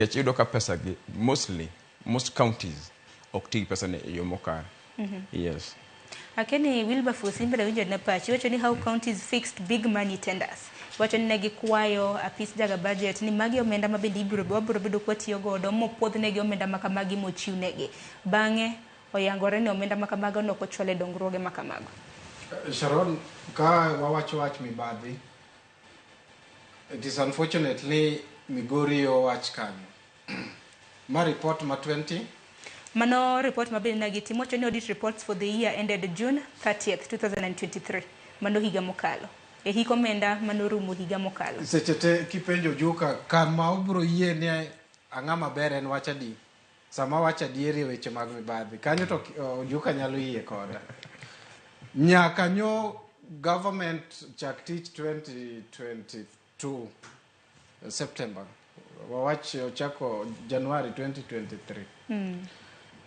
Nikech iyudo ka pesa gi mostly most counties ok ti gi pesa ni e yo mokare. Yes. Akeni Wilberforce in bende winjo na pachi iwacho ni how counties fixed big money tenders. Iwacho ni ne gikwayo apis jaga budget ni magi omenda ma bende ibiro wabiro bedo kwa tiyo godo mopwodh negi omenda ma kamagi mochiw negi. Bang'e oyangore ni omenda ma kamago ne ok ochwal e dongruoge ma kamago. Sharon, ka wawacho wach mibadhi, It is unfortunate ni Migori owach kanyo. Ma report ma 20 Mano report ma bende nagitimo wacho ni audit reports for the year ended June 30th, 2023. Mano higa mokalo. E hik omenda mano rumo higa mokalo. seche te kipenjo Ojuka kama obro yie ni ang'ama ber en wach adi. Sama awacho adieri e weche mag mibadhi, kanyo to ki- o, Ojuka nyalo yie koda. Nyaka nyo government chak tich 2022 September. Wawach ochako Januari 2023.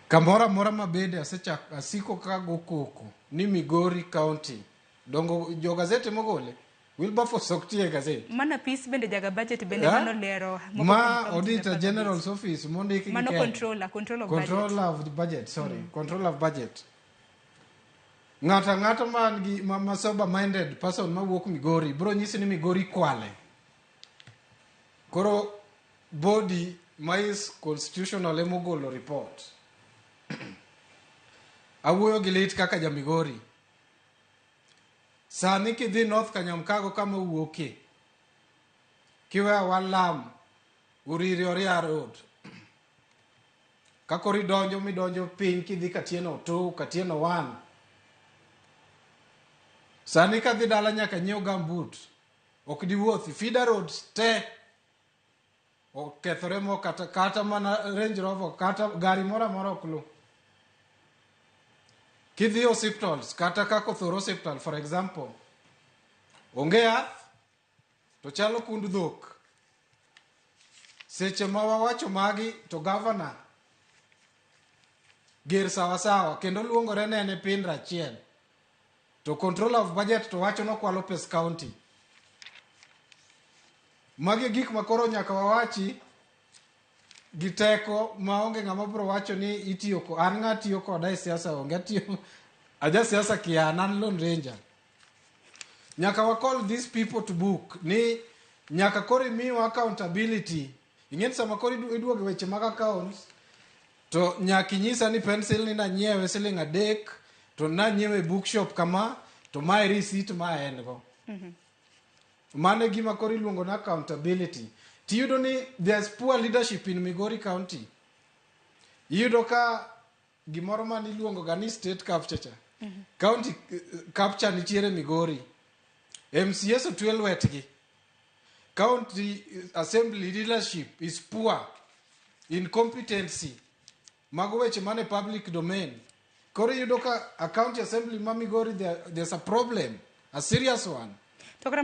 Kamoro amora ma bede asechak asiko ka go koko ni Migori County. Dongo jo gazete mogole Wilberforce ok tiye gazet. Mano apis bende jaga budget bende yeah. mano lero. Ma auditor general's office mondik gi Mano controller, control of control budget. Control of budget, sorry. Mm. Control of budget. Ng'ata ng'ata man gi ma, ma sober minded person ma wuok Migori bro nyisi ni Migori kwale. Koro body ma is constitutional emogolo report. Awuoyo gi lit kaka ja Migori. Sani kidhi North Kanyamkago kama owuokie, kiwe awa lam Uriri Oria Road, kakoro idonjo midonjo piny kidhi Katieno tu Katieno wan. Sani kadhi dala nyaka nyiew gambut, ok diwuothi. Fida Road te okethore mo kata, kata mana Range Rover kata gari moro amora ok lu. Kidhi e hospitals kata kaka othoro hospital for example, onge yath to chalo kund dhok. Seche ma wawacho magi to gavana ger sawasawa kendo luongore nene pin rachiel To controller of budget to wacho nokwalo pes county. Magi gik ma koro nyaka wawachi gi teko ma onge ng'ama biro wacho ni itiyo ko an ng'a tiyo koda e siasa onge atiyo aja siasa kian an lone ranger nyaka wa call these people to book ni nyaka koro imiwa accountability Ing'eni sama koro idu- iduogo e weche mag accounts to nyaka inyisa ni pencil ni nanyiewe siling adek to nanyiewe e bookshop kama to mae receipt ma en go mano e gima koro iluongo ni accountability tiyudo ni there's poor leadership in migori county iyudo ka gimoro ma niluongoga ni state capture cha county eh, capture nitiere migori mcs otwe lwetgi county eh, assembly leadership is poor incompetency mago weche mane public domain koro iyudo ka a county assembly ma migori there- there's a problem a serious one to kata